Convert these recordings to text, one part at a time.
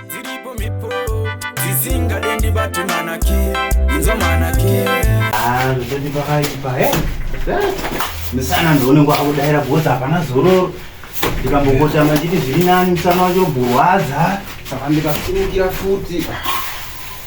dziripo mhepo dzisingade ndibate manaki inzwa manaki Ah, ndati pakaipa he musana ndione kwakudaira because hapana zororo ndikambokota machiti zviri nani musana wacho burwadza saka ndikasimukira futi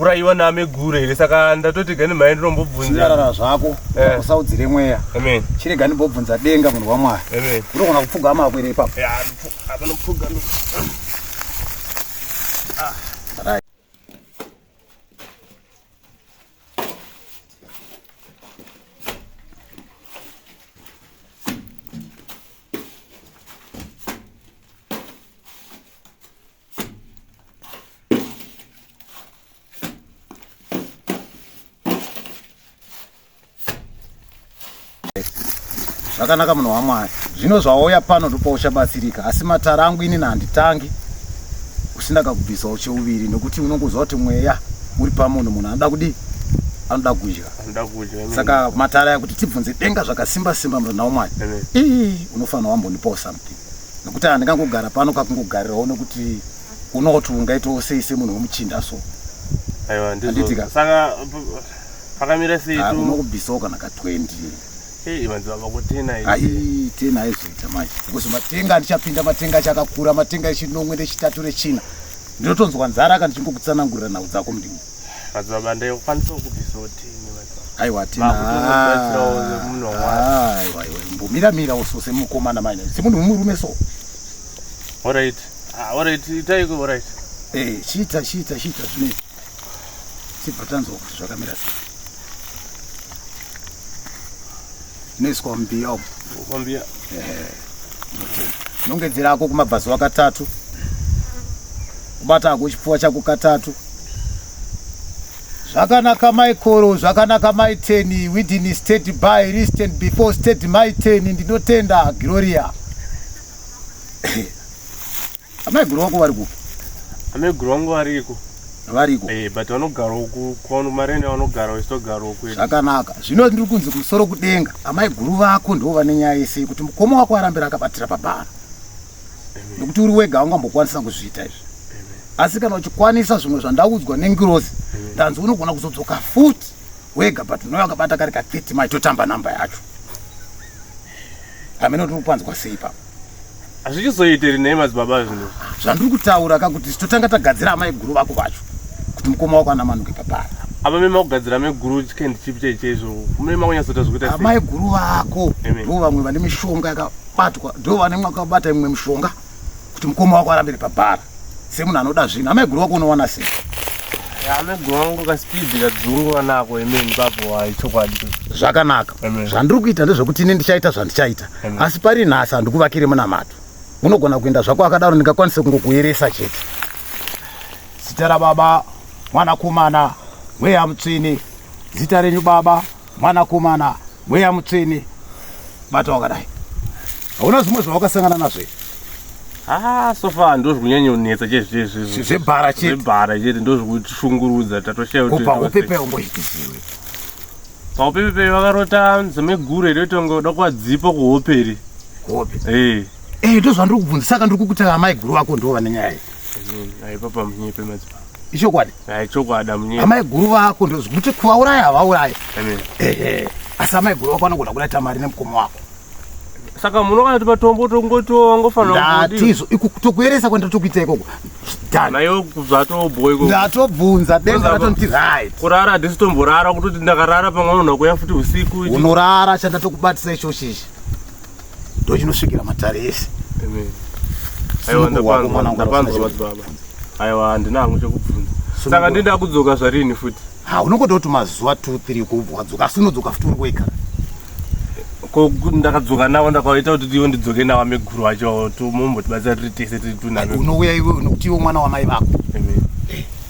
uraiwa naameguru here saka ndatoti gani mhai ndinombobvunzarara zvako eh. usaudzire mweya amen chirega ndimbobvunza denga munhu wamwari amen unogona kupfuga amakwere ipapo apanopfuga zvakanaka munhu wamwari zvino zvawauya pano ndopa uchabatsirika asi matara angu inini handitangi usina kakubvisa ucheuviri nokuti unongoziva kuti mweya uri pamunhu munhu anoda kudii anoda kudya saka matara ya kuti tibvunze denga zvakasimba simba murana wamwari ii unofanira wambonipawo something nekuti handingangogara pano kakungogarirawo nekuti unoa kuti ungaitawo sei semunhu wemuchinda so aiwa ndizotika saka pakamira sei ah, unokubvisawo kana ka 20 ai tena aizoita manje because matenga andichapinda matenga achakakura matenga echinomwe nechitatu rechina ndinotonzwa nzara ka ndichingokutsanangurira nhau dzako mudingi madzibaba ndaikwanisa kubvisawo tini aiwa tinaaiwaiwambomiramira uso semukomana maina semunhu mumurume so orit ah, orit itaiko orit eh, chiita chiita chiita zvine tibva tanzwa kuti zvakamira sei inoiswa mumbiya umu mumbiya nongedzera ako kumabvazuva katatu kubata ako chipfuwa chako katatu zvakanaka maikoro zvakanaka maiteni widin state by listen before state maiteni ndinotenda gloria Amaiguru wako vari kupi? Amaiguru wangu variko. Variko. Eh, but vanogara uku kwano marene vanogara vachitogara uku. Zvakanaka. Zvino ndiri kunzi kumusoro kudenga. Amaiguru vako ndivo vane nyaya yese yekuti mukoma wako arambira akabatira pabhara. Nekuti uri wega aungambokwanisa kuzviita izvi. Asi kana uchikwanisa zvimwe zvandaudzwa nengirozi, ndanzi unogona kuzodzoka futi. wega but unouya wakabata kari ka 30 mai totamba namba yacho hameno tiri kupanzwa sei pa hazvichizoiteri nei madzibaba zvino zvandiri kutaura ka kuti totanga tagadzira amai guru vako vacho kuti mukoma wako anamanuke papara apa mema kugadzira amai guru chikendi chipi chai chaizvo mune makunyatsoita zvekuita amai guru vako ndo vamwe vane mishonga yakabatwa ndo vane mwakabata imwe mishonga kuti mukoma wako arambire pabhara semunhu anoda zvinhu amaiguru wako unowana sei amaiguru wangu kasipidi kadzungu vanako imeni papo wayi chokwadi zvakanaka zvandiri kuita ndezvekuti ini ndichaita zvandichaita asi pari nhasi handikuvakire munamato unogona kuenda zvako akadaro ndingakwanise kungokuyeresa chete zita rababa mwanakomana mweya mutsvini zita renyu baba Mwanakomana mweya mutsvene, bata wakadai. Hauna zvimwe zvawakasangana nazvo here? Ah, so far ndozvi kunyanyonetsa chezvezvezve Zvebhara chete. zvebhara chete ndozvi kutishungurudza tatoshaya Ko pahope payo mboitisiwe. paupepepei vakarota nzome guru here kuti vanga vada kuvadzipa kuhope here Hope. Eh, Eh, ndozvandiri kubvunza saka ndiri kukuti amai guru vako ndivo vane nyaya iyi. aipapa munyepe madzi ichokwadi eh, ichokwadi amunyepa amai guru vako ndozvikuti kuvauraya havauraye ehe asi amai guru vako vanogona kudaita mari nemukoma wako saka muno kana timatombo tongotiwo ngofanatizo tokueresa kwenda tokuita ikoko nayo zvatobhoy ndatobvunza denga ratonti right kurara disi tomborara kutoti ndakarara pamwe unhu nakuya futi usiku unorara chandatokubatisa ichochichi ndochinosvikira matare ese aiwa handina hangu chekubvunza saka ndinda kudzoka zvarini futi ha unongodakuti mazuva two three kubva wadzoka asi unodzoka futi uri wega ko ndakadzoka navo ndakaita kuti ivo ndidzoke navo meguru vacho mombotibatsira tiri tese tiri tunaunovuya iwe nokuti ivo mwana wamai vako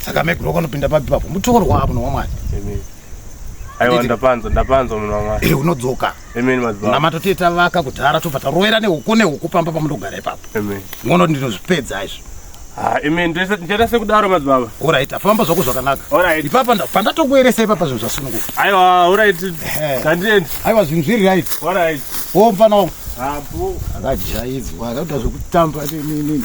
saka meguru wakanopinda papi papo mutokorwa avo nowamwari aiwa ndapanzwa ndapanzwa munhu wamwa eh, unodzoka namata tiye tavaka kudhara tobva tarovera nehuku nehuku pamba pamunogara ipapo ngono ndinozvipedza izvo ah, imi ndichaita sekudaro madzibaba orit afamba zvako zvakanaka ipapa pandatokueresa ipapa zvinhu zvasununguka aiwa orit kandiend aiwa zvinhu zviri rit orit wo mfana wangu akajaidzwa akaita zvekutamba nini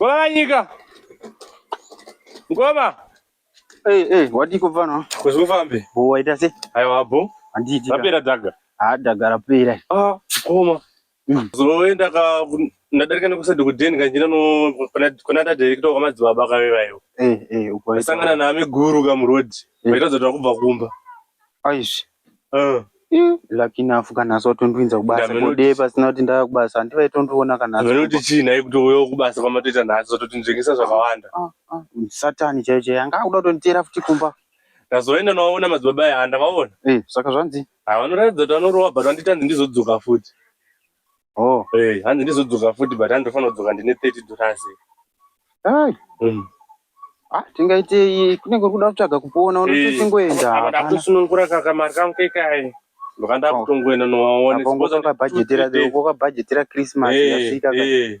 Ngoma vanyika. Ngoma. Hey, hey, wadi kufana. Kuzufambe. Bo waita se. Ayo abo. Anditi. Rapera daga. Ah, daga rapera. Ah, ngoma. Mm. Zoenda ka ndadarika nekusadi kudeni kanjira no kuna ta director kwa madzibaba ka vevayo. Eh, eh, uko. Sangana na ameguru ka muroad. Vaita zotwa kubva kumba. Aishi. Uh. Mm, lucky enough kana so tondwinza kubasa kode pasina kuti ndava kubasa handivai tondiona kana vane kuti chii nhai kuti uyo kubasa kwamatoita nhasi zvatotindengesa zvakawanda ah, ah, ah. satani chaiyo chaiyo anga akuda kutonditeera futi kumba ndazoenda novaona madzibaba aya andavaona eh, saka zvanzi havanorairidza kuti vanorova but vanditanzi ndizodzoka futi Oh. Eh, hanzi ndizodzoka futi but handofanira kudzoka ndine 30 dollars. Hai. Mm. Ah, tingaitei kunenge uri kuda kutsvaga kupona unotosingoenda. Apa ndakusunungura kaka mari kangu kekai. Ndokanda oh. kutongoenda nowaone. Apa ngokabhajetera ngokabhajetera Christmas yasvika. Eh.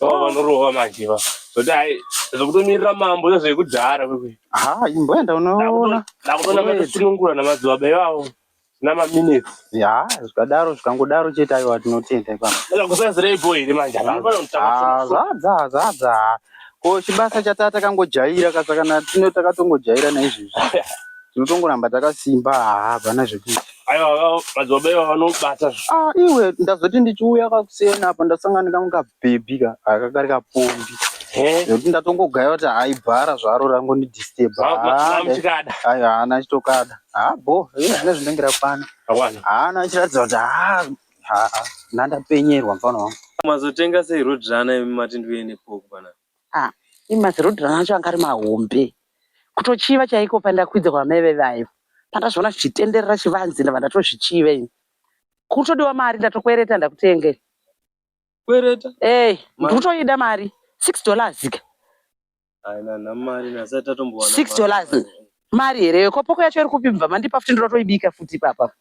vanorova manje va zoti hai zvekutomirira mambo iyo zvekudhara kwekwe ha imboenda unoona ndakutoona matosunungura namadzibaba ivavo zvina maminutes ya zvikadaro zvikangodaro chete aiwa tinotenda ipapa kusazireipo here manje ah, zvadza zvadza ko chibasa chataa takangojaira kasakana tino takatongojaira naizvezvi tinotongoramba takasimba haa hapana zvekuti aiwa madzibaba iva vanobata ah iwe ndazoti ndichiuya kakusiyana apa ndasangana kangu kabhebhi ka aka kari kapombi nekuti ndatongogaya kuti hayi bhara zvaro rangondidisturba aiwa haana achitokada haa bo zvine zvinenge rakwana haana achiratidza kuti haa haa nandapenyerwa mfana wangu mazotenga sei rodhirana imi mati ndiuye nepokubana ah imi mazirodhirana acho anga ari mahombe kutochiva chaiko pandakwidza kwamai veve aivo pandazviona zvichitenderera chivanzi ndava ndatozvichiva ini kutodiwa mari ndatokwereta ndakutengei kwereta hey, eh, ndikutoida mari six dollars ka six dollars mari here yo kopoko yacho iri kupi mva mandipa futi ndoda toibika futi ipapa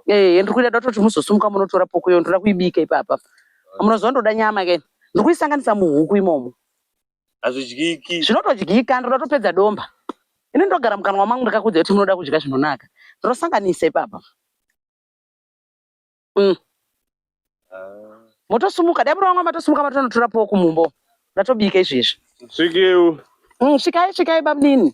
ee eh, ndiri kuida dototi muzosumuka munotora poko yo ndoda kuibika ipapa munoziva ndoda nyama ke ndiri kuisanganisa muhuku imomo hazvidyiki zvinotodyika ndoda topedza domba ini ndogara mukanwa mangu ndakakudza kuti munoda kudya zvinonaka ndinosanganisa ipapa mm. Ah. motosumuka dai muri vamwe matosumuka matonotora poo kumumbo ndatobika izvezvi svikiu mm, svikai svikai bamnini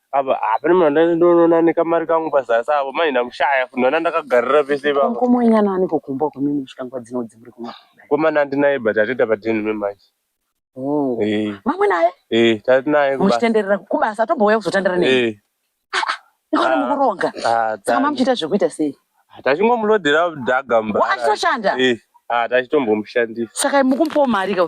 apa hapana munhu andati ndonoona nekamari kangu pazasi apo manje ndakushaya futi ndona ndakagarira pese ipapa komonyana aniko kumba kwamimi chikangwa dzino dzimuri kuma komana handinaye but atoita padeni memanje oh. eh. mamwe naye eh, tati naye muchitenderera kubasa tombouya kuzotandara nei eh. ah, ah, ikona ah, mukuronga saka mamuchiita zvekuita sei tachingomulodhera dhaga mba achitoshanda tachitombomshandisa saka mukumupawo mari ka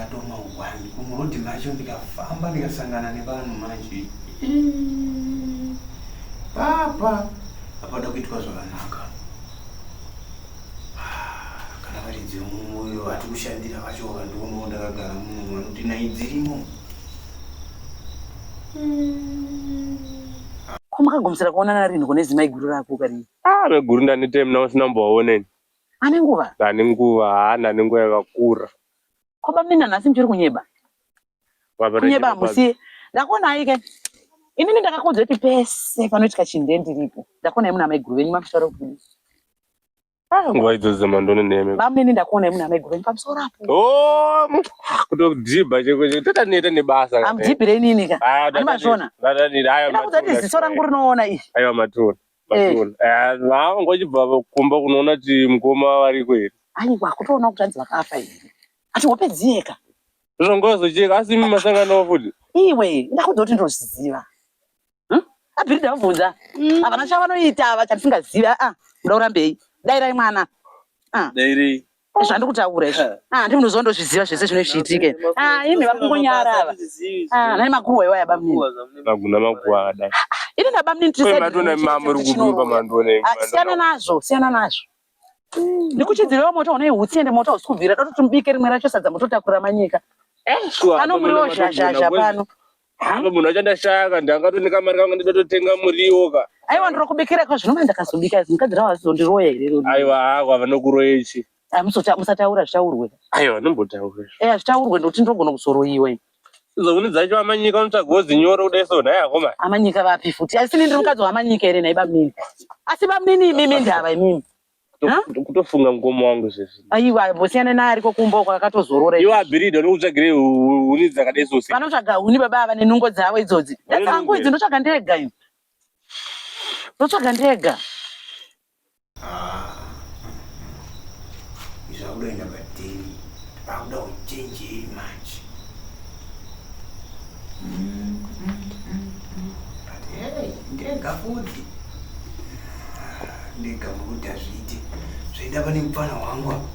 atoma hwani kumurodhi macho ndikafamba ndikasangana nevanhu manje papa apada kuitwa zvakanaka kana vari dzemumoyo hati kushandira vacho vakandionawo ndakagara muno vanoti nai dzirimo ko makagumisira kuonana rinhi kune zimai guru rako kari ah, veguru ndanitei muna musina mbovaoneni Ane nguva? Ane nguva, haana ane nguva yakakura. Ko bamnina nhasi muchiri kunyeba? Kunyeba hamusiye. Ndakuona aike. Inini ndakakuudzai kuti pese panoitika chinhu ndiye ndiripo. Ndakuona imuna mai guru venyu makusara kubuda. Ah, nguva idzo dzemandoni nemi. Bamnini ndakuona imuna mai guru venyu pamusoro apo. Oh, kutodhibha cheko cheko tata neta nebasa. Amudhibhire inini ka. Ani mazvona. Ndadadira ayo matona. Ndakuudzai ziso rangu rinoona izvi. Ayo matona. Maziona. Ah, vanga vachibva kumba kunoona kuti mukoma variko here. Aiwa kutoona kuti hanzi vakafa here. Ati hope dziyeka. Zvanga vazocheka asi imi masangana wo futi. Iwe ndakuda kuti ndozviziva. Hmm? Abhiri ndavabvunza. Mm. Havana chavanoita ava chandisingazivi. Ah, muda urambei. Dairai mwana. Ah. Dairei. zvandiri kutaura izvi ah, ndimi munoziva ndozviziva zvese zvine zviitike ah, imi vakungonyara ava ah, nai makuhwa iwa yaba mnini maguna makuhwa akadai ini naba mnini tisiyana nazvo siyana nazvo ndikuchidzirewo moto unei hutsi ende moto hausi kubvira tototi mubike rimwe racho sadza mototakura manyika eh, pano muriwo zhazhazha pano Hama munhu wacho ndashaka ndakato nekamari kangu ndidatotenga muriwo ka. Aiwa ndrokubikira kwa zvinova ndakazobika izi mukadzi ravo azondiroya here rodi. Aiwa hako avanokuroya ichi. Ah, musota musataura zvitaurwe. Aiwa nombotaura. Eh zvitaurwe ndoti ndrogona kuzoroyiwa ini. Zoguni dzacho amanyika unotsvagawo zinyoro kudai so nhai akoma. Amanyika vapi futi asi ini ndiri mukadzi wamanyika here nhai bamunini. Asi bamunini imimi ndava imimi. kutofunga mukoma wangu izvezvi aiwa mbosiyana naye ariko kumba uko akatozorora iwe abhirida unokutsvagire huni dzakadai zose vanotsvaga huni baba ava nenungo dzavo idzodzi dzangu idzi ndotsvaga ndega iyo ndotsvaga ndega zvakudoenda pateni pakuda kuchenjei manje ndegafudzi ndega mukuti hazviiti zvaida pane mupfana wangu apa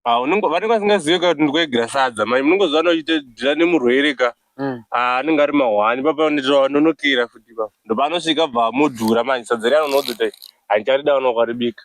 ah, vanenge vasingazive ka kuti ndikuegera sadza mai munenge zvana uchitodira nemurwere ka hmm. ah, anenge ari mahwani papanonokera futi pa ndopanosvika bva amudhura manje sadza riya anonodzota handicharidaona ukaribika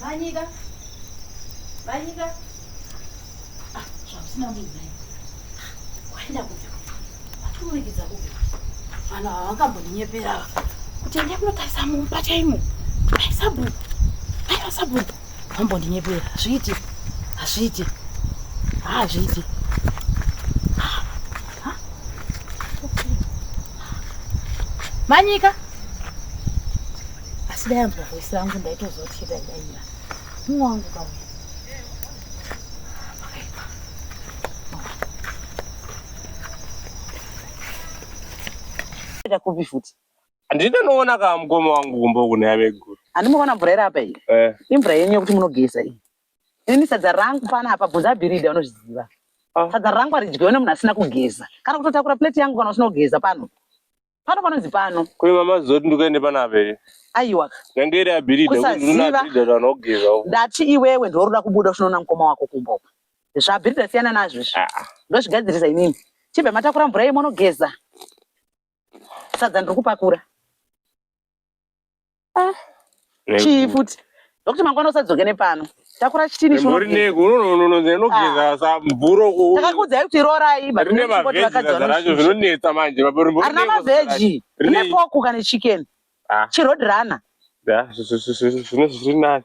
Vanyika. Vanyika. Ah, zvabusina muzai. Waenda kupi? Watomuregedza kupi? Vanhu ava vakambondinyepera ava. Kuti ende kunotarisa mumba chaimo. Dai sabhuku. Dai sabhuku. Vambondinyepera. Hazviiti. Hazviiti. Hazviiti. Ah, Manyika. asi dai anzwa voice rangu ndaitoziva kuti chete aidaira mumwe wangu kauya ita kupi futi handinoona kaa mukoma wangu kumba uku neaveguru handimoona mvura iri apa iyi eh. imvura yenyu yekuti munogeza iyi ini sadza rangu pana apa bvunza bhiridha unozviziva ah. sadza rangu aridyiwe nemunhu asina kugeza kana kutotakura plate yangu kana usina kugeza pano pano panonzi pano kune mama zoti ndikuende pana abheri aiwa yange iri abhiridhaanogeza ndati iwewe ndiwaunoda kubuda uchinoona mukoma wako kumba zvabhiridha siyana nazvo izvi ah, ah. ndozvigadzirisa inini chibva matakura mvura yemonogeza sadza ndiri kupakura Ah, chii futi ndokuti mangwana usadzoke nepano takura chitini chinononononononogezasamvurotakakudza kuti rorai rine mavhejiracho zvinonetsa manje arina mavheji rine poku kane chicken ah. chirod runner zvinonani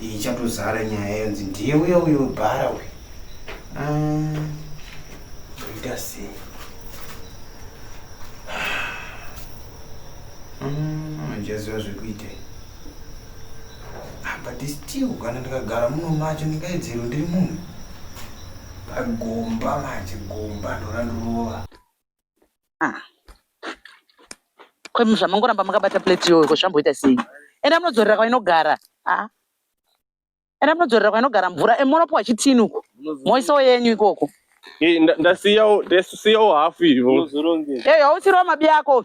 ichatozara nyaya yonzi ndiye uya uyo bhara uyo ah, ita sei handichaziva ah, zvekuita ah, but still kana ndikagara muno macho ndingaidzero ndiri munhu pagomba manje gomba ndorandorova ah. Kwemi zvamangoramba makabata plate iyoyo ko zvamboita sei? Enda munodzorera kwainogara. Ah. Enda munodzorera kwainogara mvura. E, munopiwa chitini uko. Moisawo yenyu ikoko. Hey, ndasiyawo ndasiyawo half ivo. Hey, hausirowa mabi ako.